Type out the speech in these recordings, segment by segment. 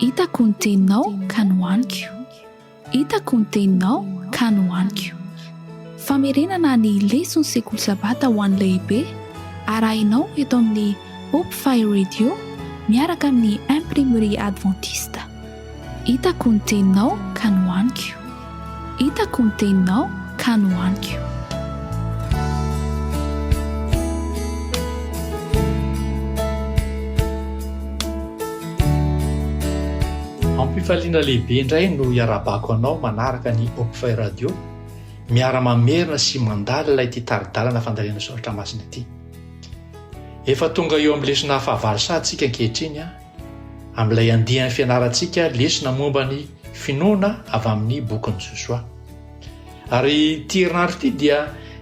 Hitako ny teninao ka nohaniko Hitako ny teninao ka nohaniko Famerenana ny leson'ny sekoly sabata ho an'ny lehibe arahinao eto amin'ny Hope Fire Radio miaraka amin'ny Imprimerie Adventiste. Hitako ny teninao ka nohaniko. Hitako ny teninao ka nohaniko. Ampifaliana lehibe indray no iarahabako anao manaraka ny Opfy Radio, miara mamerina sy mandalina ity tari-dalana fandalena soratra masina ity. Efa tonga eo amin'ny lesona fahavalo saha tsika ankehitriny an! amin'ilay andiany fianarantsika lesona momba ny finoana avy amin'ny bokin'i Josoa. Ary ity herinandro ity dia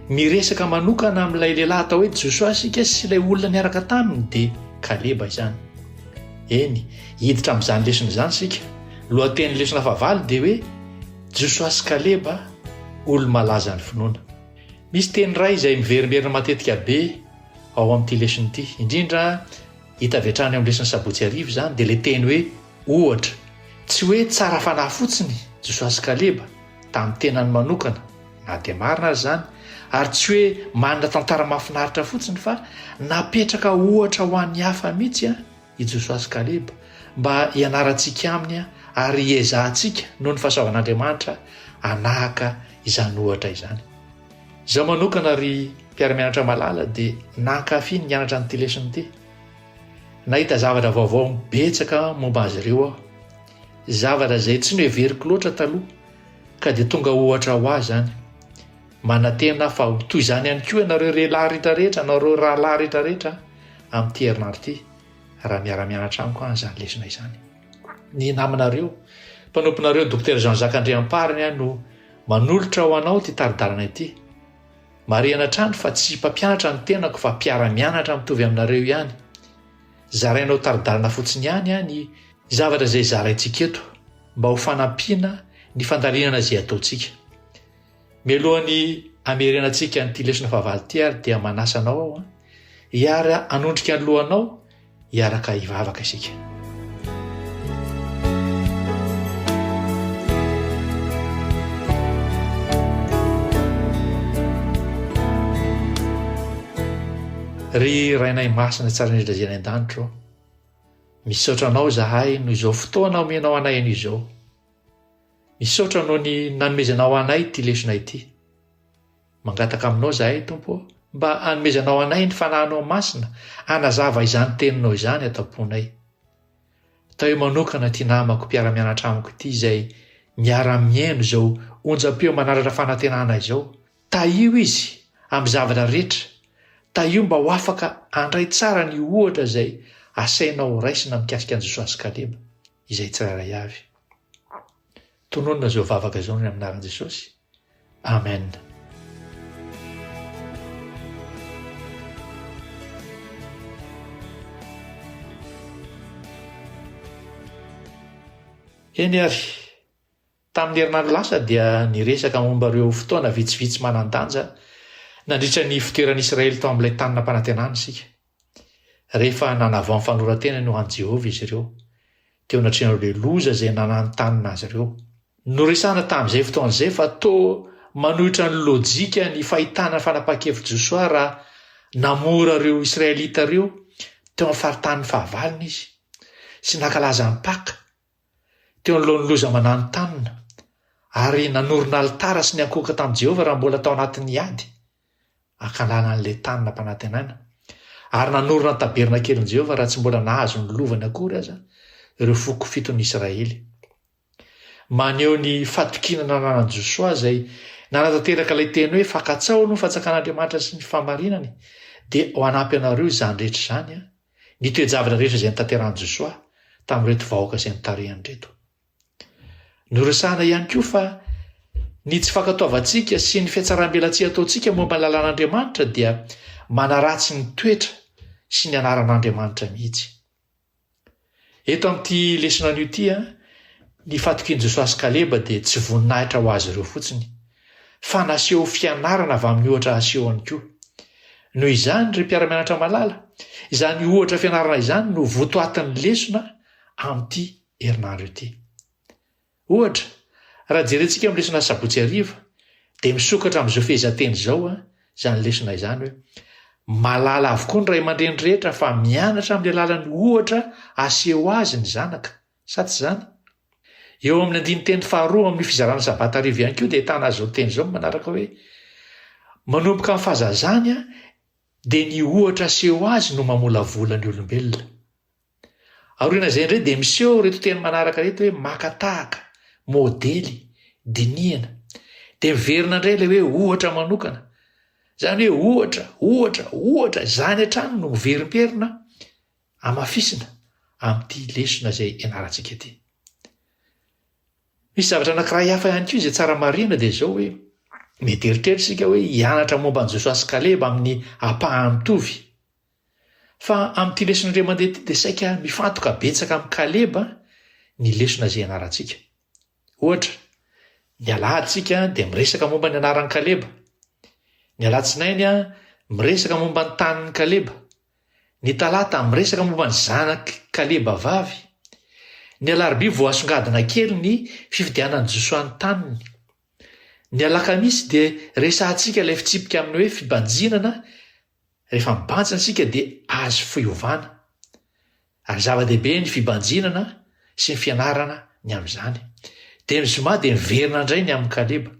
miresaka manokana amin'ilay lehilahy atao hoe Josoa isika sy ilay olona niaraka taminy dia Kaleba izany. Eny, hiditra amin'izany lesona izany isika. Lohatenin'ny lesona fahavalo dia hoe Josoa sy Kaleba olo-malaza ny finoana. Misy teny iray izay miverimberina matetika be ao amin'ity lesona ity, indrindra Hita avy hatrany eo amin'ny lesin'ny sabotsy hariva izany dia ilay teny hoe ohatra. Tsy hoe tsara fanahy fotsiny Josoa sy Kaleba tamin'ny tenany manokana na dia marina aza izany ary tsy hoe manana tantara mahafinaritra fotsiny fa napetraka ohatra ho an'ny hafa mihitsy i Josoa sy Kaleba mba hianarantsika aminy ary hiezahantsika noho ny fahasoavan'Andriamanitra hanahaka izany ohatra izany. Izaho manokana ry mpiara-mianatra malala dia nankafy ny nianatra an'ity lesona ity. Nahita zavatra vaovao betsaka momba azy ireo aho. Zavatra izay tsy noheveriko loatra taloha ka dia tonga ohatra ho ahy izany. Manantena fa ho toy izany ihany koa ianareo rehelahy rehetra rehetra, ianareo rahalahy rehetra rehetra amin'ity herinandro ity raha miara-mianatra amiko an izany lesona izany. Ny namanareo, mpanomponareo Dokotera Jean Jacques Andriampariny no Manolotra ho anao ity tari-dalana ity. Marihana hatrany fa tsy mpampianatra ny tenako fa mpiara-mianatra mitovy aminareo ihany. Zarainao tari-dalana fotsiny ihany aho ny zavatra izay zaraintsika eto mba ho fanampiana ny fandalinana izay ataontsika. Mialohan'ny hamerenantsika an'ity lesona fahavalo ity ary dia manasa anao aho hiara hanondrika ny lohanao Hiaraka hivavaka isika. Ry Rainay Masina tsara indrindra izay any an-danitro, misaotra anao izahay noho izao fotoana omenao anay anio izao. Misaotra noho ny nanomezanao anay ity lesona ity. Mangataka aminao izahay, Tompo ô, mba hanomezanao anay ny fanahinao masina hanazava izany teninao izany ato am-ponay. Atao hoe manokana ity namako mpiara-mianatra amiko ity izay miara-mihaino izao onjam-peo manaratra fanantenana izao. Tahio izy amin'ny zavatra rehetra. Tahio mba ho afaka handray tsara ny ohatra izay asainao horaisina mikasika an'i Josoa sy Kaleba, izay tsirairay avy. Tononina izao vavaka izao ny amin'ny anaran'i Jesosy. Amen. Eny ary, tamin'ny herinandro lasa dia niresaka momba ireo fotoana vitsivitsy manan-danja nandritra ny ifoteran'i Israely tao amin'ilay tany nampanantenana isika. Rehefa nanavao ny fanoran-tenany ho an'i Jehovah izy ireo, teo anatrehan'ireo be loza izay nananontanona azy ireo. Noresahana tamin'izay fotoana izay fa toa manohitra ny lojika ny fahitana ny fanapahan-kevitr'i Josoa raha namora ireo Israelita ireo teo amin'ny faritanin'ny fahavalony izy sy nankalaza ny Paka teo anoloan'ny loza mananontanona ary nanorina alitara sy niankohoka tamin'i Jehovah raha mbola tao anatin'ny ady. ankalana an'i Letana mpanantenana, ary nanorina ny tabernakelin'i Jehovah raha tsy mbola nahazo ny lovany akory aza ireo foko fiton'ny Israely. Maneho ny fatokiana nananan'i Josoa izay nanatanteraka ilay teny hoe fankatsaho aloha ny fanjakan'Andriamanitra sy ny fahamarinany, dia ho hanampy anareo izany rehetra izany ny toe-javatra rehetra izay nitanterahan'i Josoa tamin'ireto vahoaka izay notarihany ireto. Noresahana ihany koa fa ny tsy fankatoavantsika sy ny fiatsaram-belatsihy ataontsika momba ny lalan'Andriamanitra dia manaratsy ny toetra sy ny anaran'Andriamanitra mihitsy. Eto amin'ity lesona anio ity, ny fatokian'i Josoa sy Kaleba dia tsy voninahitra ho azy ireo fotsiny, fa naseho fianarana avy amin'ny ohatra aseho ihany koa. Noho izany, ry mpiara-mianatra malala, izany ohatra fianarana izany no votoatin'ny lesona amin'ity herinandro ity. Ohatra, raha jerentsika amin'ny lesona sabotsy hariva, dia misokatra amin'izao fehezanteny izao a, izany lesona izany hoe malala avokoa ny ray aman-dreny rehetra fa mianatra amin'ny alalan'ny ohatra aseho azy ny zanaka, sa tsy izany? Eo amin'ny andinin-teny faharoa amin'ny fizarana sabata hariva ihany koa dia ahitana azy izao teny izao ny manaraka hoe manomboka amin'ny fahazazany dia ny ohatra aseho azy no mamolavola ny olombelona. Aorian'izay indray dia miseho ireto teny manaraka ireto hoe maka tahaka, modely, dinihana. Dia miverina indray ilay hoe ohatra manokana. Izany hoe ohatra, ohatra, ohatra, izany hatrany no miverimperina amafisina amin'ity lesona izay ianarantsika ity. Misy zavatra anankiray hafa ihany koa izay tsara marina dia izao hoe mety eritreritra isika hoe hianatra momba an'i Josoa sy Kaleba amin'ny ampahany mitovy. Fa amin'ity lesona indray mandeha ity dia saika mifantoka betsaka amin'i Kaleba ny lesona izay ianarantsika. Ohatra, ny alahady isika dia miresaka momba ny anaran'i Kaleba. Ny alatsinainy miresaka momba ny tanin'i Kaleba. Ny talata miresaka momba ny zanak'i Kaleba vavy. Ny alarobia vao asongadina kely ny fifidianan'i Josoa ny taniny. Ny alakamisy dia resahantsika ilay fitsipika amin'ny hoe fibanjinana Rehefa mibanjina isika dia azo fiovana, ary zava-dehibe ny fibanjinana sy ny fianarana ny amin'izany. Dia ny zoma dia niverina indray ny amin'i Kaleba.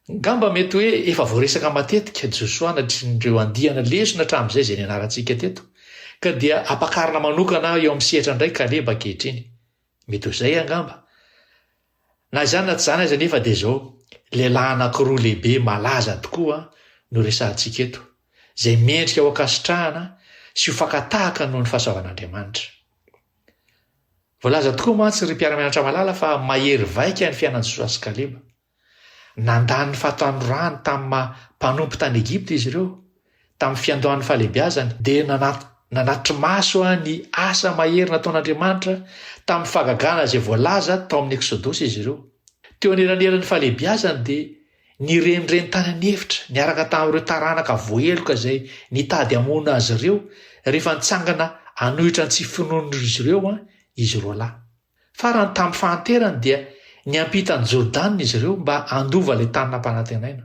Angamba mety hoe efa voaresaka matetika Josoa anatrin'ireo andiana lesona hatramin'izay izay nianarantsika teto, ka dia ampakarina manokana eo amin'ny sehatra indray Kaleba ankehitriny. Mety ho izay angamba. Na izany na tsy izany aza anefa dia izao, lehilahy anankiroa lehibe malaza tokoa no resahantsika eto, izay mendrika ho ankasitrahana sy ho fakan-tahaka noho ny fahasoavan'Andriamanitra. Voalaza tokoa mantsy ry mpiara-mianatra malala fa mahery vaika ny fiainan'i Josoa sy Kaleba. Nandà ny fahatanorany tamin'ny maha mpanompo tany Egypta izy ireo. Tamin'ny fiandohan'ny fahalehibiazany, dia nanatri-maso ny asa mahery nataon'Andriamanitra tamin'ny fahagagana izay voalaza tao amin'ny Eksodosy izy ireo. Teo anelanelan'ny fahalehibiazany dia nirenireny tany an'efitra niaraka tamin'ireo taranaka voaheloka izay nitady hamono azy ireo rehefa nitsangana hanohitra ny tsy finoan'izy ireo izy roalahy. Farany tamin'ny fahanterany dia niampita an'i Jordana izy ireo mba handova ilay tany nampanantenaina.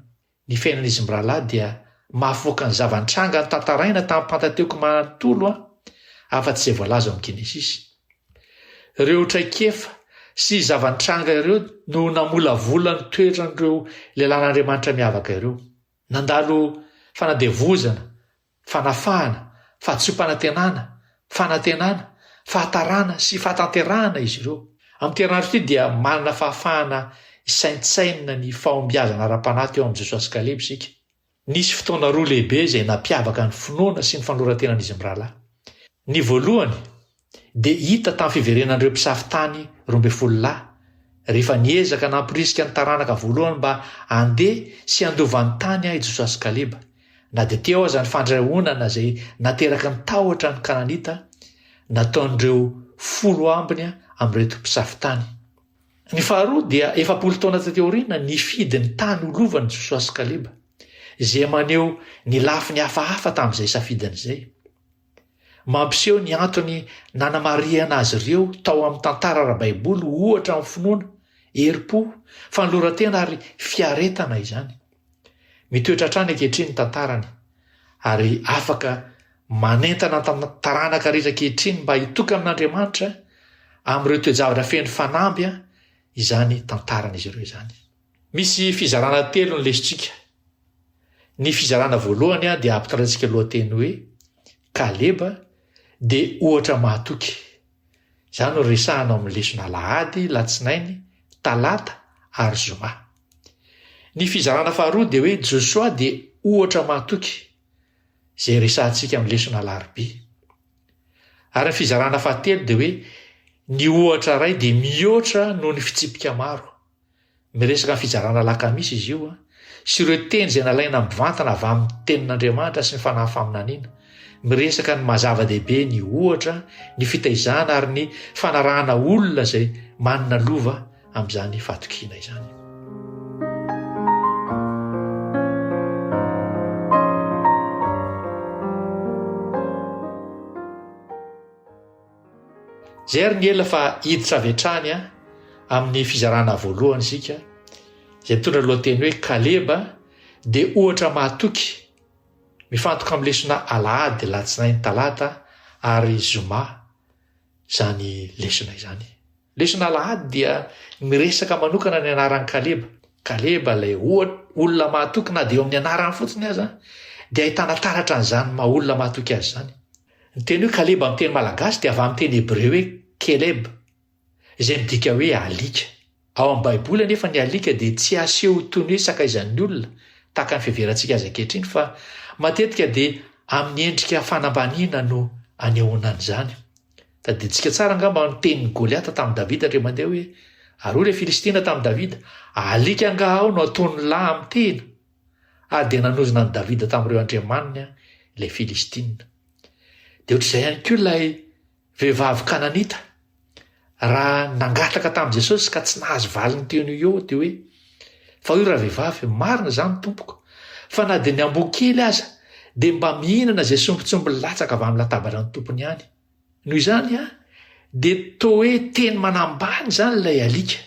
Ny fiainan'izy mirahalahy dia mahafoaka ny zava-nitranga notantaraina tamin'ny Pantateoka manontolo an, afa-tsy izay voalaza ao amin'ny Genesisy. Ireo traikefa sy zava-nitranga ireo no namolavola ny toetran'ireo lehilahin'Andriamanitra miavaka ireo. Nandalo fanadevozana fanafahana, fahadisoam-panantenana, fanantenana, fahatarana sy fahatanterahana izy ireo. Amin'ity herinandro ity dia manana fahafahana hisaintsainina ny fahombiazana ara-panahy teo amin'i Josoa sy Kaleba isika. Nisy fotoana roa lehibe izay nampiavaka ny finoana sy ny fanoloran-tenan'izy mirahalahy. Ny voalohany, dia hita tamin'ny fiverenan'ireo mpisafo tany roa ambin'ny folo lahy, rehefa niezaka namporisika ny taranaka voalohany mba handeha sy handova ny tany ahy Josoa sy Kaleba, na dia teo aza ny fandrahonana izay nateraky ny tahotra an'ny Kananita nataon'ireo folo ambiny amin'ireto mpisafo tany. Ny faharoa dia efapolo taona taty aoriana nifidy ny tany ho lovany Josoa sy Kaleba, izay maneho ny lafiny hafahafa tamin'izay safidiny izay. Mampiseho ny antony nanamarihana azy ireo tao amin'ny tantara ara-baiboly ho ohatra amin'ny finoana, herim-po, fanoloran-tena ary fiaretana izany. Mitoetra hatrany ankehitriny ny tantarany, ary afaka manentana ny taranaka rehetra ankehitriny mba hitokana an'Andriamanitra amin'ireo toe-javatra feno fanamby izany tantaran'izy ireo izany. Misy fizarana telo ny lesintsika. Ny fizarana voalohany dia ampitandremantsika lohateny hoe Kaleba dia ohatra mahatoky. Izany no resahana ao amin'ny lesona alahady, latsinainy, talata ary zoma. Ny fizarana faharoa dia hoe Josoa dia ohatra mahatoky izay resahantsika amin'ny lesona alarobia. Ary ny fizarana fahatelo dia hoe ny ohatra iray dia mihoatra noho ny fitsipika maro. Miresaka ny fizarana lakamisy izy io sy ireo teny izay nalaina mivantana avy amin'ny Tenin'Andriamanitra sy ny fanahy faminaniana. Miresaka ny maha-zava-dehibe ny ohatra, ny fitaizana ary ny fanarahana olona izay manana lova amin'izany fahatokiana izany. Izay ary ny ela fa hiditra avy hatrany amin'ny fizarana voalohany isika izay mitondra ny lohateny hoe Kaleba dia ohatra mahatoky mifantoka amin'ny lesona Alahady, Alatsinainy, Talata ary Zoma izany lesona izany. Lesona Alahady dia miresaka manokana ny anaran'i Kaleba. Kaleba ilay olona mahatoky na dia eo amin'ny anarany fotsiny aza dia ahitana taratra an'izany maha olona mahatoky azy izany. Ny teny hoe Kaleba amin'ny teny malagasy dia avy amin'ny teny hebreo hoe Keleb, izay midika hoe alika. Ao amin'ny Baiboly anefa ny alika dia tsy aseho toy ny hoe sakaizan'ny olona, tahaka ny fiheverantsika azy ankehitriny, fa matetika dia amin'ny endrika fanambaniana no anehoana an'izany. Tadidintsika tsara angamba ny tenin'i Goliata tamin'i Davida indray mandeha hoe, Ary hoy ilay Filistina tamin'i Davida, Alika angaha aho no ataon'ny lahy amin'ny tena? ary dia nanozona an'i Davida tamin'ireo andriamaniny ilay Filistina. Dia ohatr'izay ihany koa ilay vehivavy kananita, raha nangataka tamin'i Jesosy ka tsy nahazo valiny teo noho eo dia hoe, fa io raha vehivavy, marina izany tompoko, fa na dia ny amboa kely aza dia mba mihinana izay sombintsomby latsaka avy amin'ny latabatra ny tompony ihany. Noho izany, dia toa hoe teny manambany izany ilay alika.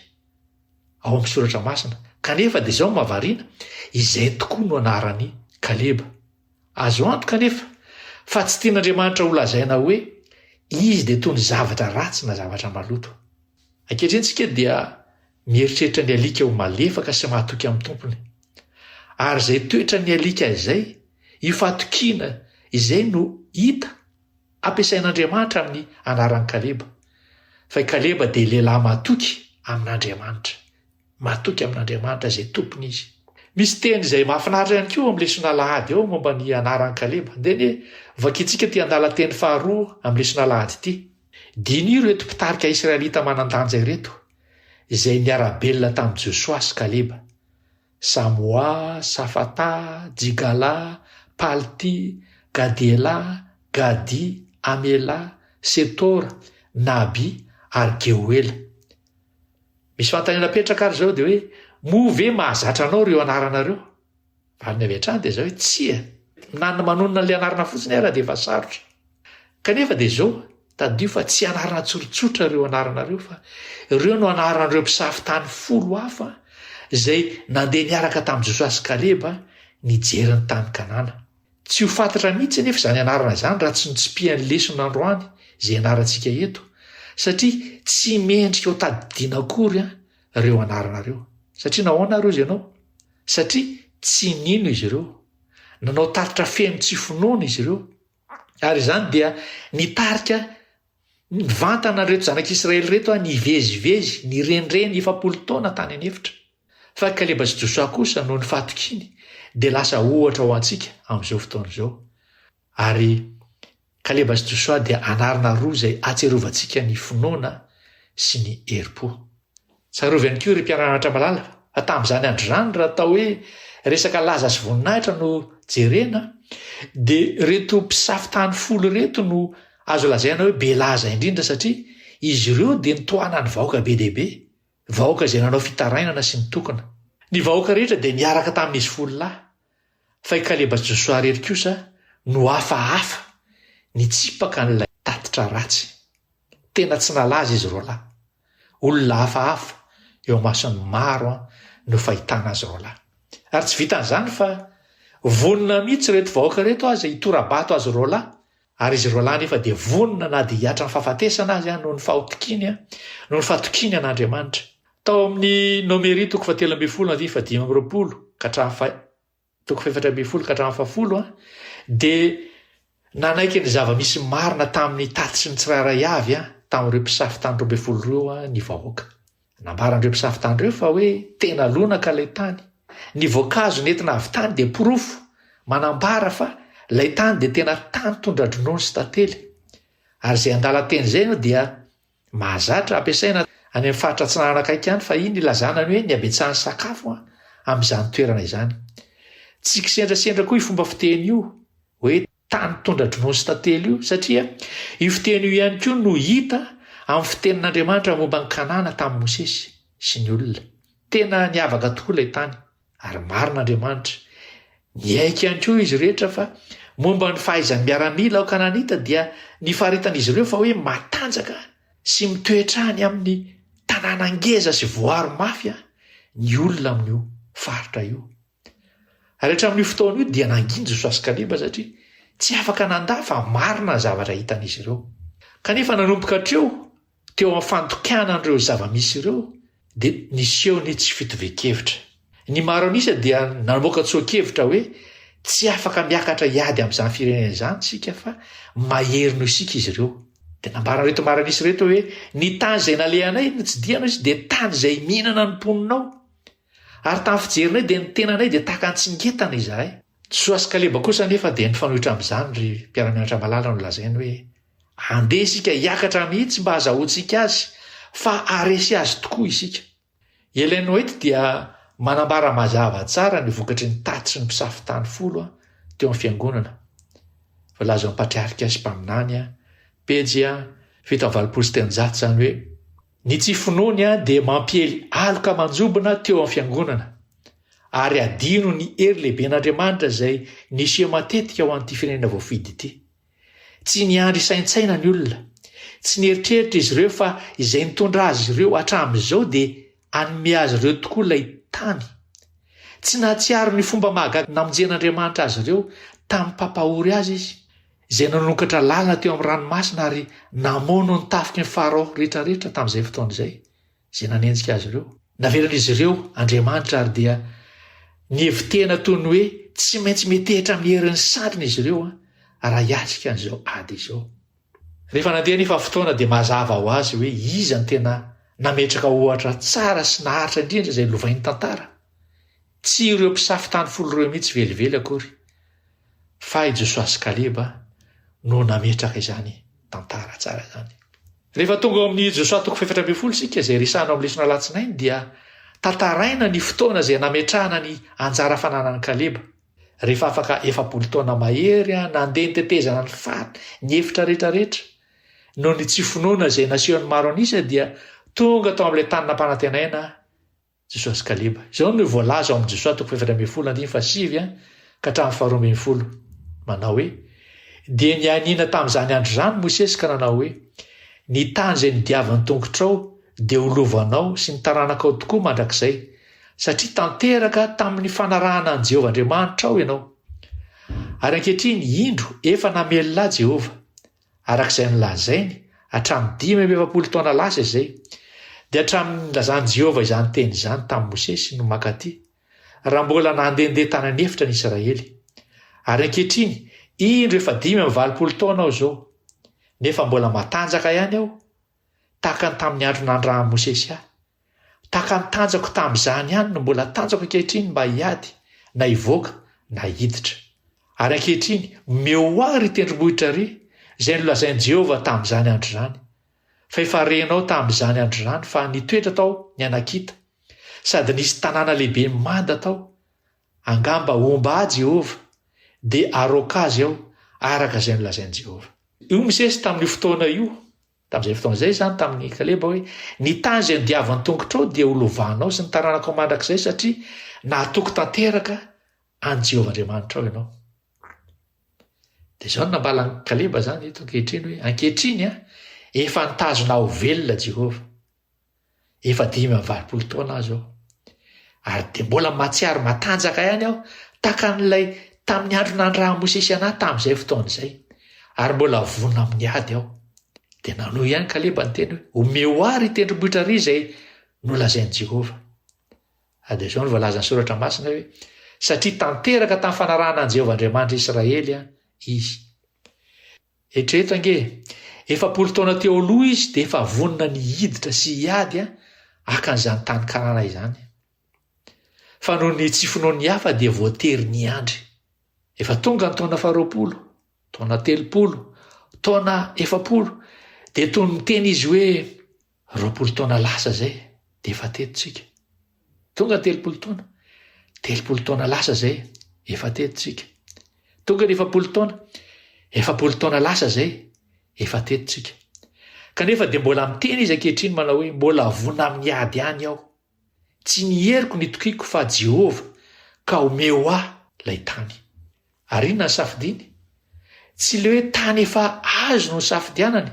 ao amin'ny Soratra Masina. Kanefa dia izao no mahavariana, izay tokoa no anaran'i Kaleba. Azo antoka anefa fa tsy tian'Andriamanitra holazaina hoe izy dia toy ny zavatra ratsy na zavatra maloto. Ankehitriny isika dia mieritreritra ny alika ho malefaka sy mahatoky amin'ny tompony. Ary izay toetran'ny alika izay, io fahatokiana izay no hita Ampiasain'Andriamanitra amin'ny anaran'i Kaleba, fa i Kaleba dia lehilahy matoky amin'Andriamanitra. Matoky amin'Andriamanitra izay tompony izy. Misy teny izay mahafinaritra ihany koa eo amin'ny lesona alahady eo momba ny anaran'i Kaleba. Andeha anie vakintsika ity andalan-teny faharoa amin'ny lesona alahady ity. Diniho ireto mpitarika israelita manan-danja ireto, izay niara-belona tamin'i Josoa sy Kaleba. Samoa, Safata, Jigala, Palti, Gadiela, Gadi, Amela, Setora, Nabi ary Geoela. Misy fanontaniana apetraka ary izao dia hoe moa ve mahazatra anao ireo anarana ireo? Valiny avy hatrany dia izao hoe tsia! Na ny manonona an'ilay anarana fotsiny ara dia efa sarotra. Kanefa dia izao, tadidio fa tsy anarana tsorontsotra ireo anaranareo fa ireo no anaran'ireo mpisafo tany folo hafa izay nandeha niaraka tamin'i Josoa sy Kaleba nijery ny tany Kanana. Tsy ho fantatra mihitsy anefa izany anarana izany raha tsy notsipihan'ny lesona androany izay ianarantsika eto satria tsy mendrika ho tadidiana akory an ireo anarana ireo. Satria nahoana ary hozy ianao? Satria tsy nino izy ireo. Nanao tatitra feno tsy finoana izy ireo. Ary izany dia nitarika mivantana an'ireto zanak'Israely ireto aho nivezivezy, nirenireny efapolo taona tany an'efitra. Fa Kaleba sy Josoa kosa noho ny fahatokiany dia lasa ohatra ho antsika amin'izao fotoana izao. Ary Kaleba sy Josoa dia anarana roa izay atsiarovantsika ny finoana sy ny herim-po. Tsarovy ihany koa ry mpiara-anatra malala fa tamin'izany andro izany raha atao hoe resaka laza sy voninahitra no jerena dia ireto mpisafotany folo ireto no azo lazaina hoe be laza indrindra satria izy ireo dia nitohanan'ny vahoaka be dia be, vahoaka izay nanao fitarainana sy nitokona. Ny vahoaka rehetra dia niaraka tamin'izy folo lahy Fa i Kaleba sy Josoa irery kosa no hafahafa nitsipaka an'ilay tatitra ratsy. Tena tsy nalaza izy roalahy. Olona hafahafa eo amason'ny maro no fahitana azy roalahy. Ary tsy vitan'izany fa vonona mihitsy ireto vahoaka ireto aza hitora-bato azy roalahy Ary izy roalahy anefa dia vonona na dia hihatra ny fahafatesana azy noho ny fahotkiny, noho ny fahatokiany an'Andriamanitra. Tao amin'ny Nomery toko fahatelo ambin'ny folo andininy fahadimy amby roapolo ka hatramin'ny fa toko fahefatra ambin'ny folo ka hatramin'ny fahafolo dia nanaiky ny zava-misy marina tamin'ny tatitry ny tsirairay avy tamin'ireo mpisafo tany roa ambin'ny folo ireo ny vahoaka. Nambaran'ireo mpisafo tany ireo fa hoe tena lonaka ilay tany. Ny voankazo nentina avy tany dia porofo manambara fa ilay tany dia tena tany tondra-dronono sy tantely. Ary izay andalan-teny izay no dia mahazatra ampiasaina any amin'ny faritra atsinanana akaiky any fa iny ilazana ny hoe ny habetsahan'ny sakafo amin'izany toerana izany. Tsy kisendrasendra koa io fomba fiteny io hoe tany tondra-dronono sy tantely io, satria io fiteny io ihany koa no hita amin'ny fitenin'Andriamanitra momba an'i Kanana tamin'i Mosesy sy ny olona. Tena niavaka tokoa ilay tany, ary marina Andriamanitra. Niaiky ihany koa izy rehetra fa momba ny fahaizan'ny miaramila ao Kananita dia nifaritan'izy ireo fa hoe matanjaka sy mitoetra any amin'ny tanàna ngeza sy voaro mafy ny olona amin'io faritra io. Ary hatramin'io fotoana io dia nangina Josoa sy Kaleba satria tsy afaka nanda fa marina ny zavatra hitan'izy ireo. Kanefa nanomboka hatreo, teo amin'ny fandikana an'ireo zava-misy ireo, dia niseho ny tsy fitovian-kevitra. Ny maro an'isa dia namoaka tsoa-kevitra hoe tsy afaka miakatra hiady amin'izany firenena izany isika fa mahery noho isika izy ireo. Dia nambaran'ireto maro an'isa ireto hoe ny tany izay nalehanay notsidihana izy dia tany izay mihinana ny mponina ao. Ary tamin'ny fijerinay dia ny tenanay dia tahaka ny tsingetana izahay. Josoa sy Kaleba kosa anefa dia nifanohitra amin'izany ry mpiara-mianatra malala no lazainy hoe, Andeha isika hiakatra mihitsy mba hazahoantsika azy fa haharesy azy tokoa isika. I Ellen White dia manambara mazava tsara ny vokatry ny tatitry ny mpisafo tany folo teo amin'ny fiangonana. Voalaza ao amin'ny Patriarika sy Mpaminany, pejy fito amby valopolo sy telonjato izany hoe, Ny tsy finoany dia mampiely aloka manjobona teo amin'ny Fiangonana, ary adino ny hery lehiben'Andriamanitra izay niseho matetika ho an'ity firenena voafidy ity. Tsy niandry hisaintsaina ny olona, tsy nieritreritra izy ireo fa izay nitondra azy ireo hatramin'izao dia hanome azy ireo tokoa ilay tany. Tsy nahatsiaro ny fomba mahagaga namonjen'Andriamanitra azy ireo tamin'ny mpampahory azy izy. izay nanokatra lalana teo amin'ny ranomasina ary namono ny tafiky ny Farao rehetra rehetra tamin'izay fotoana izay, izay nanenjika azy ireo. Navelan'izy ireo Andriamanitra ary dia nihevi-tena toy ny hoe tsy maintsy metehitra amin'ny herin'ny sandriny izy ireo raha hiatrika an'izao ady izao. Rehefa nandeha anefa fotoana dia mazava ho azy hoe iza no tena nametraka ohatra tsara sy naharitra indrindra izay lovain'ny tantara. Tsy ireo mpisafo tany folo ireo mihitsy velively akory. fa i Josoa sy Kaleba no nametraka izany tantara tsara izany. Rehefa tonga ao amin'ny Josoa toko fahefatra ambin'ny folo isika izay resahana ao amin'ny lesona alatsinainy dia tantaraina ny fotoana izay nametrahana ny anjara fananan'i Kaleba. Rehefa afaka efapolo taona mahery an, nandeha ny tetezana ny fat, ny efitra rehetra rehetra. Noho ny tsy finoana izay nasehon'ny maro an'isa dia tonga tao amin'ilay tany nampanantenaina Jesoa sy Kaleba. Izao no voalaza ao amin'i Jesoa toko fahefatra ambin'ny folo andininy fahasivy ka hatramin'ny faharoa ambin'ny folo, manao hoe, Dia nianiana tamin'izany andro izany i Mosesy ka nanao hoe, Ny tany izay nodiavan'ny tongotrao dia ho lovanao sy ny taranakao tokoa mandrakizay, satria tanteraka tamin'ny fanarahana an'i Jehovah Andriamanitrao ianao. Ary ankehitriny, indro, efa namelona ahy Jehovah. araka izay nolazainy hatramin'ny dimy amby efapolo taona lasa izay, dia hatramin'ny nilazan'i Jehovah izany teny izany tamin'i Mosesy no mankaty, raha mbola nandehandeha tany an'efitra ny Israely. Ary ankehitriny, indro efa dimy amby valopolo taona aho izao, nefa mbola matanjaka ihany aho, tahaka ny tamin'ny andro nandrahan'i Mosesy ahy. Tahaka ny tanjako tamin'izany ihany no mbola tanjako ankehitriny mba hiady na hivoaka na hiditra. Ary ankehitriny, omeo ho ahy ry tendrombohitra ry, izay nolazain'i Jehovah tamin'izany andro izany. Fa efa renao tamin'izany andro izany fa nitoetra tao ny Anakita, sady nisy tanàna lehibe manda tao, Angamba homba ahy Jehovah, dia haroaka azy aho, araka izay nolazain'i Jehovah. Io misesy tamin'io fotoana io, tamin'izay fotoana izay izany tamin'i Kaleba hoe, Ny tany izay nodiavan'ny tongotrao dia holovanao sy ny taranakao mandrakizay, satria nahatoky tanteraka an'i Jehovah Andriamanitrao ianao. Dia izao no nambalan'i Kaleba izany eto ankehitriny hoe, Ankehitriny, efa nitazona ahy ho velona Jehovah. efa dimy amby valopolo taona aho zao ary dia mbola mahatsiaro matanjaka ihany aho taka an'ilay tamin'ny andro nandrahan'i Mosesy anahy tamin'izay fotoana izay ary mbola vonona amin'ny ady aho dia nanohy ihany Kaleba ny teny hoe omeo ahy ry tendrombohitra ry izay nolazain'i Jehovah ary dia izao no voalazan'ny soratra masina hoe satria tanteraka tamin'ny fanarahana an'i Jehovah Andriamanitra Israely izy Eritrereto ange, efapolo taona teo aloha izy dia efa vonona ny hiditra sy hiady haka an'izany tany karana izany. Fa noho ny tsy finoan'ny hafa dia voatery niandry. Efa tonga ny taona faharoapolo, taona telopolo, taona efapolo, dia toy ny miteny izy hoe Roapolo taona lasa izay dia efa teto tsika. Tonga ny telopolo taona. Telopolo taona lasa izay efa teto tsika. Tonga ny efapolo taona. Efapolo taona lasa izay efa teto tsika. Kanefa dia mbola miteny izy ankehitriny manao hoe mbola vona amin'ny ady any aho. Tsy ny heriko no itokiako fa Jehovah, ka omeo ahy ilay tany. Ary inona ny safidiany? Tsy ilay hoe tany efa azo no nosafidianany,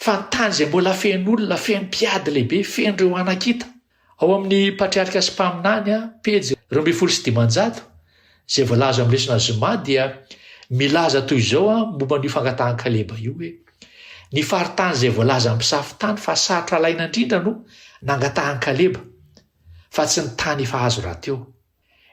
fa ny tany izay mbola feno olona, feno mpiady lehibe, feno ireo anakita. Ao amin'ny Patriarika sy Mpaminany, pejy roa ambin'ny folo sy dimanjato, Izay voalaza amin'ny lesona zoma dia milaza toy izao momba an'io fangatahan'i Kaleba io hoe, Ny faritany izay voalaza amin'ny mpisafo tany fa sarotra alaina indrindra no nangatahan'i Kaleba, fa tsy ny tany efa azo rahateo.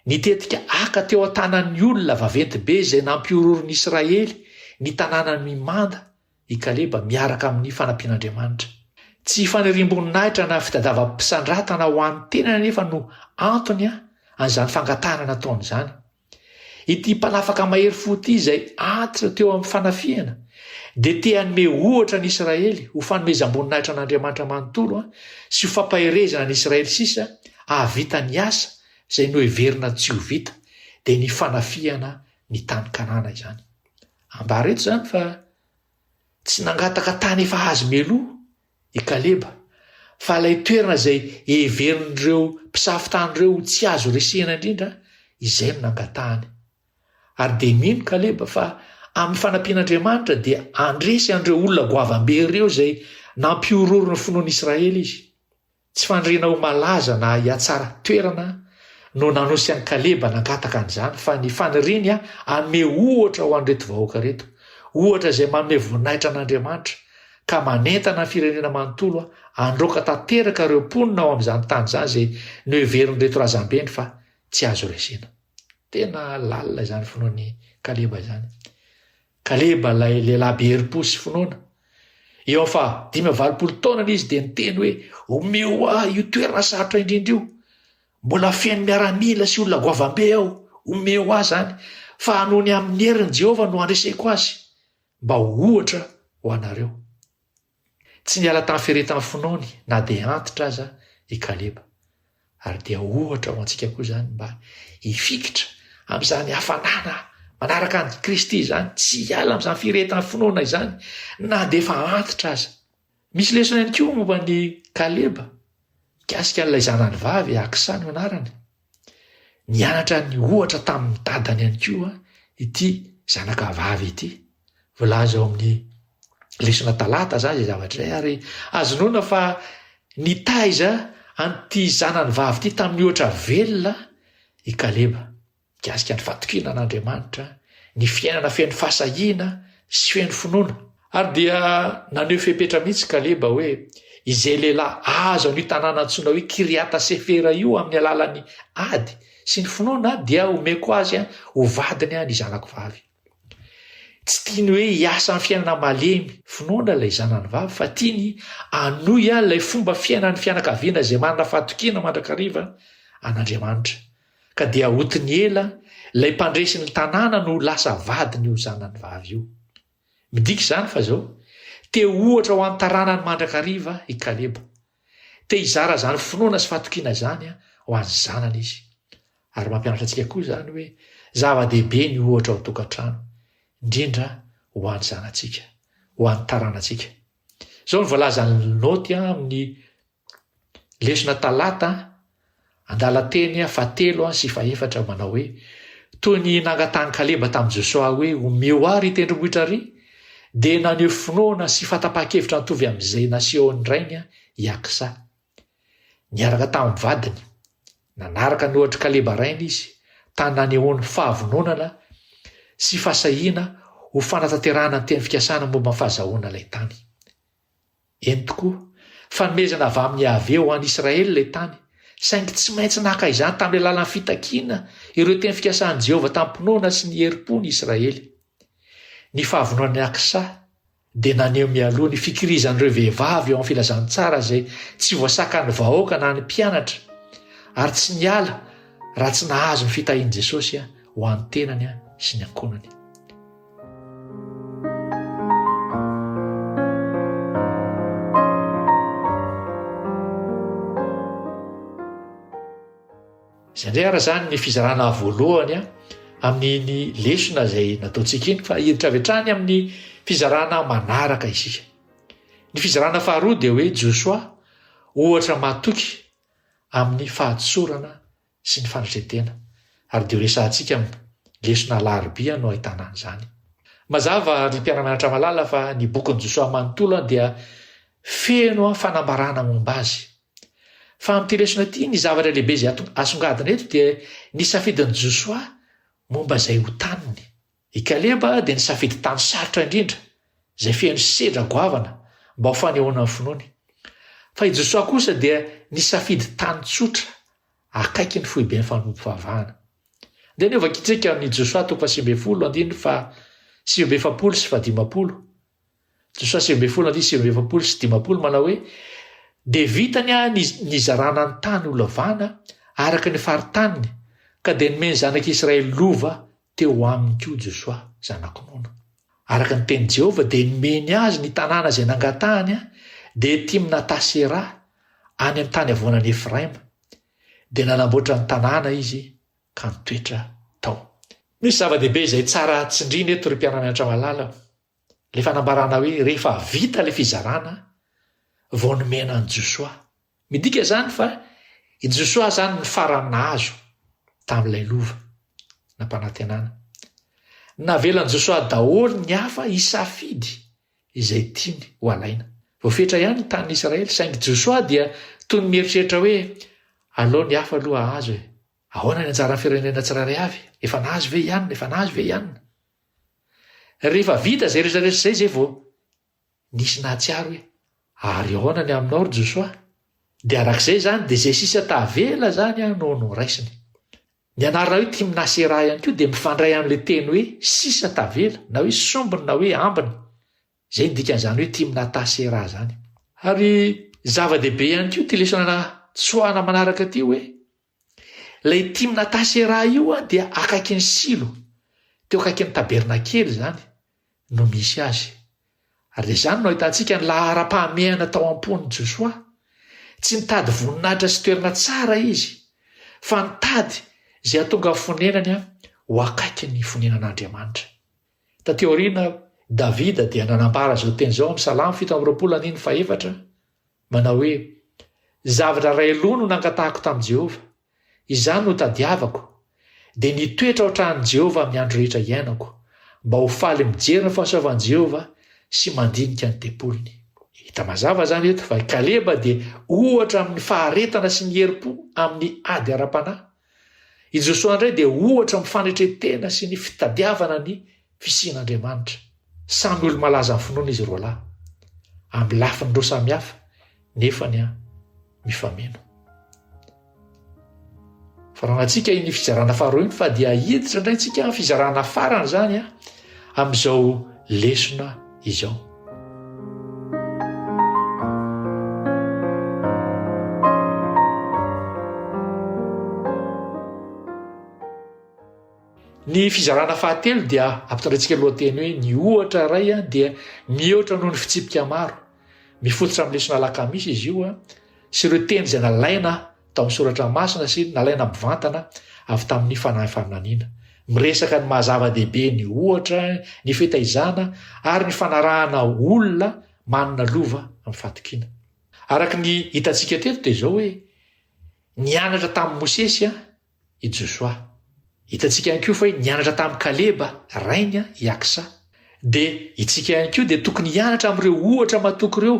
Ny tetika Aka teo an-tanan'ny olona vaventy be izay nampihororon'i Israely ny tanànan'i Manda, i Kaleba miaraka amin'ny fanampian'Andriamanitra. Tsy faniriam-boninahitra na fitadavam-pisandratana ho an'ny tenany anefa no antony an'izany fangatahana nataony izany. Ity mpanafaka mahery fo ity izay antitra teo amin'ny fanafihana dia te hanome ohatra ny Israely ho fanomezam-boninahitra an'Andriamanitra manontolo sy ho fampaherezana ny Israely sisa hahavita ny asa izay noheverina tsy ho vita dia ny fanafihana ny tany Kanana izany. Ambara eto izany fa tsy nangataka tany efa azo meloa i Kaleba, fa ilay toerana izay heverin'ireo mpisafo tany ireo ho tsy azo resena indrindra, izay no nangatahany. Ary dia mino Kaleba fa amin'ny fanampian'Andriamanitra dia handresy an'ireo olona goavambe ireo izay nampihorohoro ny finoan'Israely izy. Tsy fandriana ho malaza na hiatsara toerana no nanosy an'i Kaleba nangataka an'izany fa ny faniriany hanome ohatra ho an'ireto vahoaka ireto, ohatra izay manome voninahitra an'Andriamanitra ka manentana ny firenena manontolo handroaka tanteraka ireo mponina ao amin'izany tany izany izay noheverin'ireto razambeny fa tsy azo resena. Tena lalina izany finoan'i Kaleba izany. Kaleba ilay lehilahy be herim-po sy finoana. Eo amin'ny faha dimy amby valopolo taonany izy dia niteny hoe, Omeo ahy io toerana sarotra indrindra io. Mbola feno miaramila sy olona goavambe ao. Omeo ahy izany, fa hanohy ny amin'ny herin'i Jehovah no handreseko azy, mba ho ohatra ho anareo. Tsy niala tamin'ny fiaretan'ny finoany na dia antitra aza i Kaleba, ary dia ohatra ho antsika koa izany mba hifikitra amin'izany hafanana manaraka an'i Kristy izany, tsy hiala amin'izany fiaretan'ny finoana izany na dia efa antitra aza. Misy lesona ihany koa momba an'i Kaleba, mikasika an'ilay zanany vavy Aksa no anarany. Nianatra ny ohatra tamin'ny dadany ihany koa ity zanaka vavy ity. Voalaza ao amin'ny lesona talata izany izay zavatra izay ary azo inoana fa nitaiza an'ity zanany vavy ity tamin'ny ohatra velona i Kaleba mikasika ny fatokiana an'Andriamanitra, ny fiainana feno fahasahiana sy feno finoana. Ary dia naneho fepetra mihitsy Kaleba hoe, Izay lehilahy azo an'io tanàna antsoina hoe Kiriata Sefera io amin'ny alalan'ny ady sy ny finoana dia homeko azy ho vadiny ny zanako vavy. Tsy tiany hoe hiasa amin'ny fiainana malemy finoana ilay zanany vavy fa tiany hanohy ilay fomba fiainan'ny fianakaviana izay manana fahatokiana mandrakariva an'Andriamanitra. Ka dia Otiniela, ilay mpandresy ny tanàna no lasa vadiny io zanany vavy io. Midika izany fa izao, te ho ohatra ho an'ny taranany mandrakariva i Kaleba. Te hizara izany finoana sy fatokiana izany ho an'ny zanany izy. Ary mampianatra antsika koa izany hoe zava-dehibe ny ohatra ao an-tokantrano, indrindra ho an'ny zanantsika, ho an'ny taranantsika. Izao no voalazan'i Linaoty amin'ny Lesona Talata an-dalan-teny fahatelo sy fahefatra manao hoe, Toy ny nangatahan'i Kaleba tamin'i Josoa hoe omeo ahy ry tendrombohitra ry, dia naneho finoana sy fahatapahan-kevitra nitovy amin'izay nasehon'ny rainy i Aksa. Niaraka tamin'ny vadiny, nanaraka ny ohatr'i Kaleba rainy izy, tany nanehoany fahavononana sy fahasahiana ho fanatanterahana ny teny fikasana momba ny fahazahoana ilay tany. Eny tokoa, fanomezana avy amin'i Yaveh ho an'i Israely ilay tany, saingy tsy maintsy naka izany tamin'ny alalan'ny fitakiana ireo teny fikasan'i Jehovah tamim-pinoana sy ny herim-po ny Israely. Ny fahavononan'i Aksa dia naneho mialoha ny fikirizan'ireo vehivavy eo amin'ny filazantsara izay tsy voasakan'ny vahoaka na ny mpianatra, ary tsy niala raha tsy nahazo ny fitahian'i Jesosy ho an'ny tenany sy ny ankohonany. Izay indray ara izany ny fizarana voalohany amin'iny lesona izay nataontsika iny fa hiditra avy hatrany amin'ny fizarana manaraka isika. Ny fizarana faharoa dia hoe Josoa ohatra matoky amin'ny fahadisorana sy ny fandresen-tena, ary dia ho resahantsika amin lesona alarobia no ahitana an'izany. Mazava ry mpiara-mianatra malala fa ny bokin'i Josoa manontolo dia feno fanambarana momba azy. Fa amin'ity lesona ity ny zavatra lehibe izay asongadina eto dia ny safidin'i Josoa momba izay ho taniny. I Kaleba dia nisafidy tany sarotra indrindra, izay feno sedra goavana, mba ho fanehoana ny finoany. Fa i Josoa kosa dia nisafidy tany tsotra, akaiky ny foiben'ny fanompoavahana. Andeha ny hovakintsika amin'i Josoa toko fahasivy ambin'ny folo, andininy faha sivy amby efapolo sy fahadimampolo. Josoa sivy ambin'ny folo andiany sivy amby efapolo sy dimampolo manao hoe, Dia vitany aho ny nizarana ny tany holavana araka ny faritaniny, ka dia nomeny zanak'i Israely lova teo aminy koa Josoa, zanak'i Nona. Araka ny tenin'i Jehovah, dia nomeny azy ny tanàna izay nangatahany, dia Timnata-Sera, any amin'ny tany havoanan'i Efraima. Dia nanamboatra ny tanàna izy, ka nitoetra tao. Misy zava-dehibe izay tsara tsindrina eto, ry mpiara-mianatra malala. le fanambarana hoe rehefa vita le fizarana vao nomena an'i Josoa. Midika izany fa i Josoa izany ny farany nahazo tamin'ilay lova nampanantenana. Navelan'i Josoa daholo ny hafa hisafidy izay tiany ho alaina. Voafetra ihany ny tanin'i Israely, saingy Josoa dia toy ny mieritreritra hoe aleo ny hafa aloha hahazo e. Ahoana ny anjaran'ny firenena tsirairay avy? Efa nahazo ve i anona? Efa nahazo ve i anona? Rehefa vita izay rehetra rehetra izay izay vao nisy nahatsiaro hoe ary ahoana ny aminao ry Josoa? Dia arak'izay izany dia izay sisa tavela izany an no noraisiny. Ny anarana hoe Timna Sera ihany koa dia mifandray amin'ilay teny hoe sisa tavela na hoe sombiny na hoe ambiny. Izay ny dikan'izany hoe Timna Ta Sera izany. Ary zava-dehibe ihany koa ity lesona tsoahana manaraka ity hoe Ilay Timnata-Sera io dia akaikin'i Silo, teo akaikin'ny tabernakely izany, no misy azy. Ary dia izany no ahitantsika ny laharam-pahamehana tao am-pon'i Josoa. Tsy nitady voninahitra sy toerana tsara izy, fa nitady izay hahatonga ny fonenany ho akaiky ny fonenan'Andriamanitra. Tatỳ aoriana, Davida dia nanambara izao teny izao amin'ny Salamo fito amby roapolo andininy fahefatra, Manao hoe, Zavatra iray aloha no nangatahako tamin'i Jehovah, izany no tadiavako, dia ny hitoetra ao an-tranon'i Jehovah amin'ny andro rehetra iainako, mba ho faly mijery ny fahasoavan'i Jehovah sy mandinika ny tempoliny. Hita mazava izany eto fa i Kaleba dia ohatra amin'ny faharetana sy ny herim-po amin'ny ady ara-panahy. I Josoa indray dia ohatra amin'ny fanetren-tena sy ny fitadiavana ny fisian'Andriamanitra. Samy olo-malaza amin'ny finoana izy roalahy, amin'ny lafiny roa samihafa nefa ny an mifameno. Faranantsika iny fizarana faharoa iny fa dia hiditra indray tsika fizarana farany izany an. amin'izao lesona izao. Ny fizarana fahatelo dia ampitondratsika lohateny hoe ny ohatra iray a dia mihoatra noho ny fitsipika maro mifototra amin'ny lesona alakamisy izy io a sy ireo teny izay nalaina tamin'ny Soratra Masina sy nalaina mivantana avy tamin'ny fanahy faminaniana. Miresaka ny maha-zava-dehibe ny ohatra, ny fitaizana, ary ny fanarahana olona manana lova amin'ny fahatokiana. Araka ny hitantsika teto dia izao hoe, Nianatra tamin'i Mosesy i Josoa. Hitantsika ihany koa fa hoe nianatra tamin'i Kaleba, rainy i Aksa. Dia, itsika ihany koa dia tokony hianatra amin'ireo ohatra matoky ireo.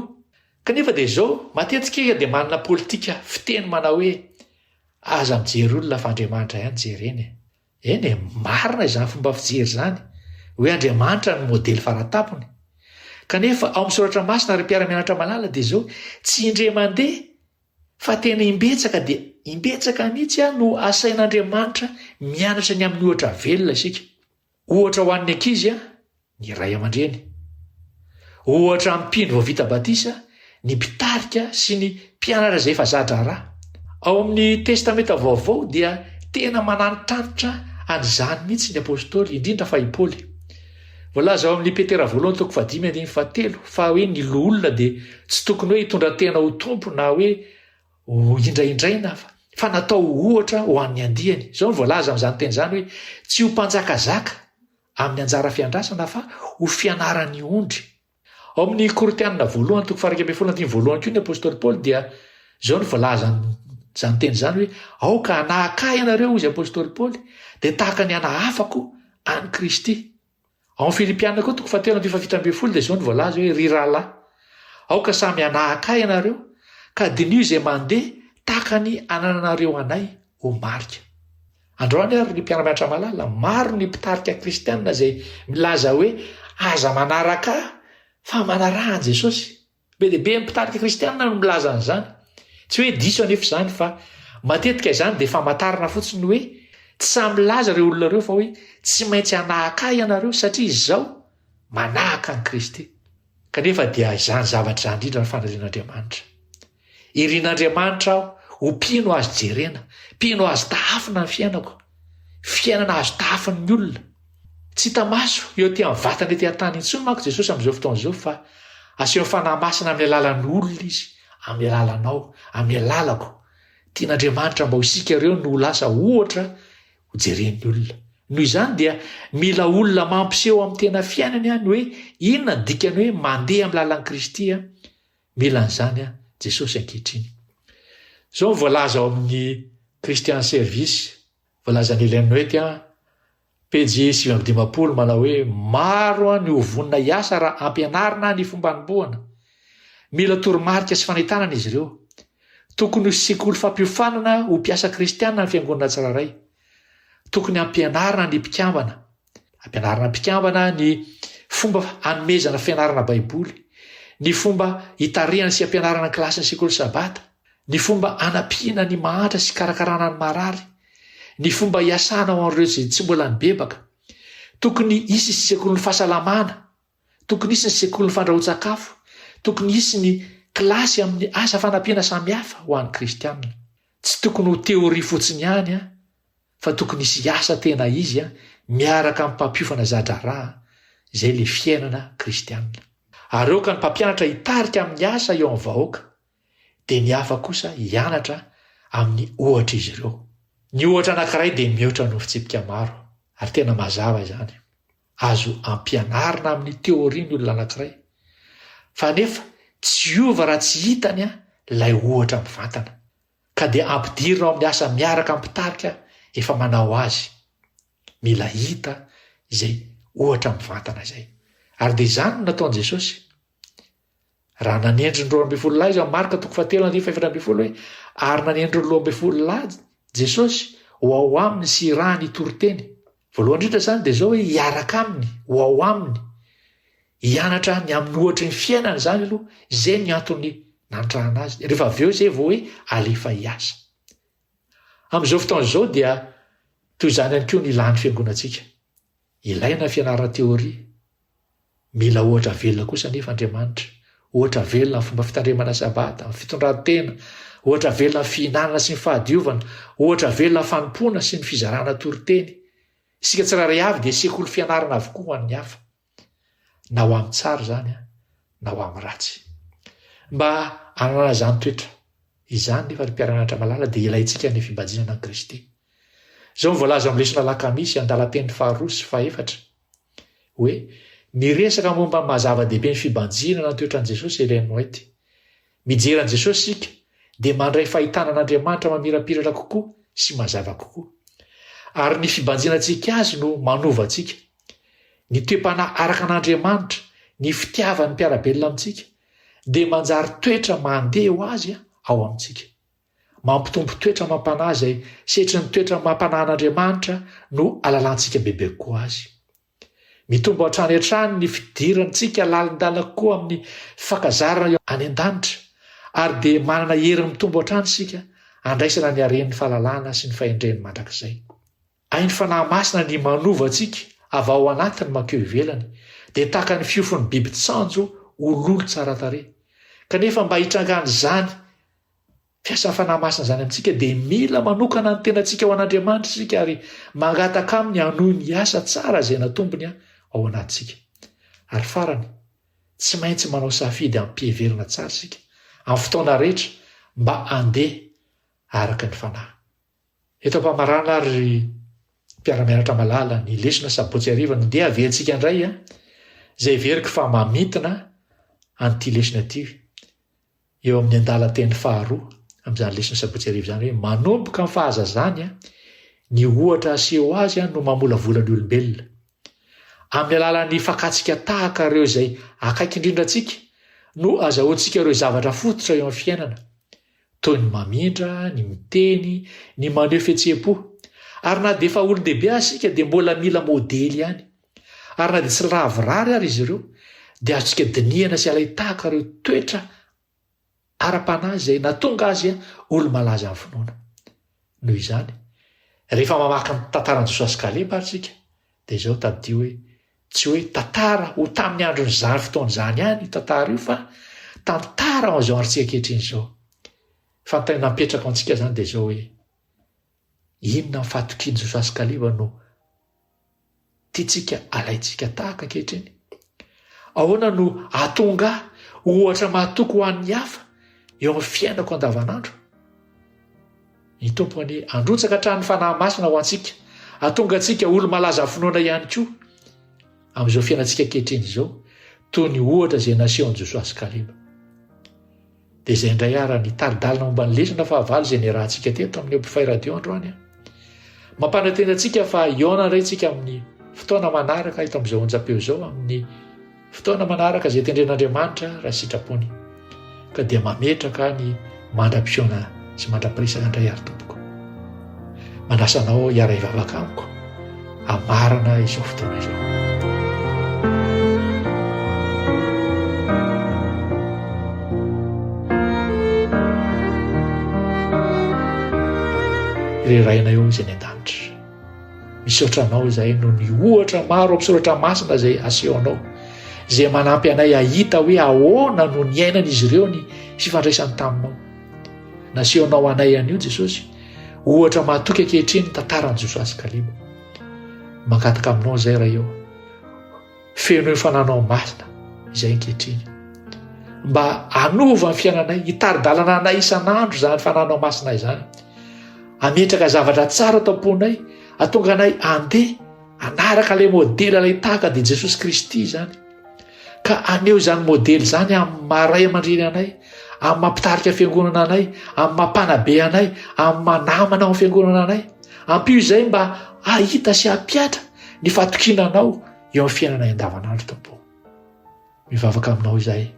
Kanefa dia izao, matetika isika dia manana politika fiteny manao hoe, Aza mijery olona fa Andriamanitra ihany jerena e! Eny e, marina izany fomba fijery izany, hoe Andriamanitra no modely faratapony. Kanefa ao amin'ny Soratra Masina, ry mpiara-mianatra malala, dia izao, tsy indray mandeha fa tena imbetsaka dia imbetsaka mihitsy no asain'Andriamanitra mianatra ny amin'ny ohatra velona isika. Ohatra ho an'ny ankizy ny ray aman-dreny. Ohatra mpino vao vita batisa ny mpitarika sy ny mpianatra izay efa za-draharaha. Ao amin'ny Testamenta Vaovao dia tena manantitrantitra an'izany mihitsy ny apostoly, indrindra fa i Paoly. Voalaza ao amin'ny Petera Voalohany toko fahadimy andininy fahatelo fa hoe ny loholona dia tsy tokony hoe hitondra tena ho tompo na hoe Hohindrahindraina aho, fa natao ho ohatra ho an'ny andiany. Izao no voalaza amin'izany teny izany hoe, Tsy ho mpanjakazaka amin'ny anjara fiandrasana, fa ho fianaran'ny ondry. Ao amin'ny Korintianina voalohany, toko faha-iraika ambin'ny folo andininy voalohany koa ny apostoly Paoly dia izao no voalaza amin'izany teny izany hoe, Aoka hanahaka ahy ianareo, hoy izy apostoly Paoly, dia tahaka ny anahafako an'i Kristy. Ao amin'ny Filipiana koa toko fahatelo andininy fahafito ambin'ny folo dia izao no voalaza hoe, Ry rahalahy, aoka samy hanahaka ahy ianareo, ka diniho izay mandeha tahaka ny anananareo anay ho marika. Androany àry, ry mpiara-mianatra malala, maro ny mpitarika kristiana izay milaza hoe, Aza manaraka ahy, fa manaraha an'i Jesosy. Be dia be amin'ny mpitarika kristianina no milaza an'izany. Tsy hoe diso anefa izany fa matetika izany dia famantarana fotsiny hoe tsy sahy milaza ireo olona ireo fa hoe tsy maintsy hanahaka ahy ianareo satria izaho manahaka an'i Kristy. Kanefa dia izany zavatra izany indrindra ny fanirian'Andriamanitra. Irin'Andriamanitra aho ho mpino azo jerena, mpino azo tahafina ny fiainako, fiainana azo tahafin'ny olona. Tsy hita maso, eo aty amin'ny vatana ety an-tany intsony manko Jesosy amin'izao fotoana izao fa asehon'ny Fanahy Masina amin'ny alalan'ny olona Izy, amin'ny alalanao, amin'ny alalako. Tian'Andriamanitra mba ho isika ireo no ho lasa ohatra hojeren'ny olona. Noho izany dia mila olona mampiseho amin'ny tena fiainany any hoe inona ny dikany hoe mandeha amin'ny lalan'i Kristy. Mila an'izany Jesosy ankehitriny. Izao ny voalaza ao amin'ny Christian Service Voalazan'i Ellen Noeck, a, pejy sivy amby dimampolo, manao hoe, Maro ny ho vonona hiasa raha ampianarina ny fomba anombohana. Mila toromarika sy fanentanana izy ireo. Tokony ho sekoly fampiofanana ho mpiasa kristiana ny fiangonana tsirairay. Tokony hampianarina ny mpikambana. Ampianarina mpikambana ny fomba hanomezana fianarana Baiboly, ny fomba hitarihana sy hampianarana ny kilasin'ny Sekoly Sabata, ny fomba hanampiana ny mahantra sy hikarakarana ny marary, ny fomba hiasana ho an'ireo izay tsy mbola nibebaka. Tokony hisy ny Sekolin'ny Fahasalamana, tokony hisy ny Sekolin'ny Fandrahoan-tsakafo, tokony hisy ny kilasy amin'ny asa fanampiana samihafa ho an'ny Kristianina. Tsy tokony ho teoria fotsiny ihany fa tokony hisy hiasa tena izy miaraka amin'ny mpampiofana za-draharaha, izay ilay fiainana kristianina. Ary aoka ny mpampianatra hitarika amin'ny asa eo amin'ny vahoaka, dia ny hafa kosa hianatra amin'ny ohatr'izy ireo. Ny ohatra anankiray dia mihoatra noho fitsipika maro, ary tena mazava izany. Azo ampianarina amin'ny teoria ny olona anankiray, fa anefa tsy hiova raha tsy hitany ilay ohatra mivantana. ka dia ampidirina ao amin'ny asa miaraka amin'ny mpitarika efa manao azy. Mila hita izay ohatra mivantana izay. Ary dia izany no nataon'i Jesosy. Raha nanendry ny roa ambin'ny folo lahy izany Marka toko fahatelo andininy fahefatra ambin'ny folo hoe ary nanendry ny roa ambin'ny folo lahy Jesosy ho ao aminy sy irahany hitory teny. Voalohany indrindra izany dia izao hoe hiaraka aminy, ho ao aminy. Hianatra ny amin'ny ohatry ny fiainana izany aloha, izay ny antony nantrahana azy, rehefa avy eo izay vao hoe alefa hiasa. Amin'izao fotoana izao dia toy izany ihany koa ny ilàn'ny fiangonantsika. Ilaina ny fianarana teoria. Mila ohatra velona kosa anefa Andriamanitra, ohatra velona amin'ny fomba fitandremana sabata, amin'ny fitondran-tena, ohatra velona amin'ny fihinanana sy ny fahadiovana, ohatra velona amin'ny fanompoana sy ny fizarana toriteny. Isika tsirairay avy dia sekoly fianarana avokoa ho an'ny hafa. na ho amin'ny tsara izany na ho amin'ny ratsy. Mba hananana izany toetra izany nefa ry mpiara-mianatra malala dia ilaintsika ny fimbajinana an'i Kristy. Izao no voalaza amin'ny lesona alakamisy andalam-peny faharoa sy fahefatra hoe, Niresaka momba ny maha-zava-dehibe ny fibanjinana ny toetran'i Jesosy i Ellen White. Mijery an'i Jesosy isika, dia mandray fahitana an'Andriamanitra mamirapiratra kokoa sy mazava kokoa. Ary ny fibanjinantsika azy no manova antsika. Ny toe-panahy araka an'Andriamanitra, ny fitiavan'ny mpiara-belona amintsika, dia manjary toetra mandeha ho azy ao amintsika. Mampitombo toetra amam-panahy izay setrin'ny toetra amam-panahin'Andriamanitra no alalantsika bebe kokoa azy. Mitombo hatrany hatrany ny fidirantsika lalindalina koa amin'ny fakazarana any an-danitra ary dia manana hery mitombo hatrany isika handraisana ny haren'ny fahalalana sy ny fahendreny mandrakizay. Ain'ny Fanahy Masina ny manova antsika avy ao anatiny mankeo ivelany, dia tahaka ny fiofon'ny biby tsanjo ho lolo tsara tarehy. Kanefa mba hitrangan'izany, Mpiasa fanahy masina izany amintsika dia mila manokana ny tenantsika ho an'Andriamanitra isika ary mangataka Aminy hanohy ny asa tsara izay natombony ao anatintsika. Ary farany, tsy maintsy manao safidy amim-piheverana tsara isika amin'ny fotoana rehetra mba handeha araka ny fanahy. Eto am-pamarana ary ry mpiara-mianatra malala ny lesona sabotsy hariva no ndeha havehantsika indray a! izay heveriko fa mamintina an'ity lesona ity. eo amin'ny andalan-teny faharoa amin'izany lesona sabotsy hariva izany hoe, Manomboka amin'ny fahazazany, ny ohatra aseho azy no mamolavola ny olombelona. Amin'ny alalan'ny fakantsika tahaka ireo izay akaiky indrindra antsika no azahoantsika ireo zavatra fototra eo amin'ny fiainana, toy ny mamindra, ny miteny, ny maneho fihetseham-po. Ary na dia efa olon-dehibe aza isika dia mbola mila modely ihany. Ary na dia tsy lavorary ary izy ireo, dia azontsika dinihana sy alain-tahaka ireo toetra ara-panahy izay nahatonga azy olo-malaza amin'ny finoana. Noho izany, rehefa mamaky ny tantaran'i Josoa sy Kaleba ary isika, dia izao tadidio hoe tsy hoe tantara ho tamin'ny andron'izany fotoana izany ihany io tantara io fa tantara ao an'izao androntsika ankehitriny izao. Fanontaniana mipetraka ao antsika izany dia izao hoe Inona amin'ny fahatokian'i Josoa sy Kaleba no tiantsika alaintsika tahaka ankehitriny? Ahoana no hahatonga ahy ohatra mahatoky ho an'ny hafa eo amin'ny fiainako andavanandro? Ny Tompo anie handrotsaka hatrany fanahy masina ho antsika, hahatonga antsika olo-malaza finoana ihany koa amin'izao fiainantsika ankehitriny izao, toy ny ohatra izay nasehon'i Josoa sy Kaleba. Dia izay indray ara ny tari-dalana momba ny lesona fahavalo izay niarahantsika teto amin'io mpifay radio androany a. Mampanantena antsika fa hihaona indray tsika amin'ny fotoana manaraka eto amin'izao onjam-peo izao amin'ny fotoana manaraka izay tendren'Andriamanitra raha sitrapony. Ka dia mametraka ny mandra-pihaona sy mandra-piresaka indray ary tompoko. Manasa anao hiara-hivavaka amiko hamarana izao fotoana izao. Ry Rainay ao izay any an-danitra, misaotra anao izay no ny ohatra maro amin'ny soratra masina izay asehonao izay manampy anay hahita hoe ahoana no niainan'izy ireo ny fifandraisany taminao. Nasehonao anay an'io Jesosy Ohatra mahatoky ankehitriny ny tantaran'i Josoa sy Kaleba. Mangataka aminao izay iray eo. Feno eo fananao masina izay ankehitriny. Mba hanova ny fiainanay, hitari-dalana anay isan'andro izany fananao masina izany. Ametraka zavatra tsara tamponay, atonga anay andeha anaraka ilay modely ilay tahaka dia Jesosy Kristy izany. Ka aneho izany modely izany amin'ny maha ray aman-dreny anay, amin'ny maha mpitarika fiangonana anay, amin'ny maha mpanabe anay, amin'ny maha namana ao amin'ny fiangonana anay. Ampio izay mba hahita sy hampihatra ny fatokiana anao eo amin'ny fiainanay andavanandro Tompo. Mivavaka aminao izay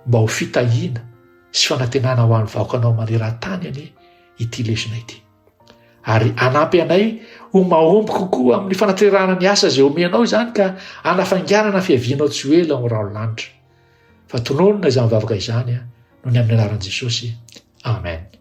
mba ho fitahiana sy fanantenana ho an'ny vahoakanao maneran-tany anie ity lesona ity. Ary hanampy anay ho mahomby kokoa amin'ny fanatrerahana ny asa izay omenao izany ka hanafainganana fiavianao tsy ho ela ao amin'ny rahon'ny lanitra. Fa tononina izany vavaka izany noho ny amin'ny anaran'i Jesosy. Amen.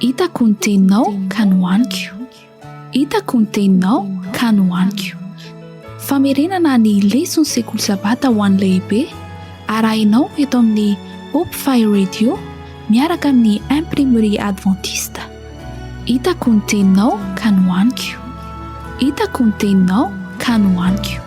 Hitako ny teninao ka nohaniko. Hitako ny teninao ka nohaniko. Famerenana ny leson'ny sekoly sabata ho an'ny lehibe arahinao eto amin'ny Hope Fire Radio miaraka amin'ny Imprimerie Adventiste. Hitako ny teninao ka nohaniko Hitako ny teninao ka nohaniko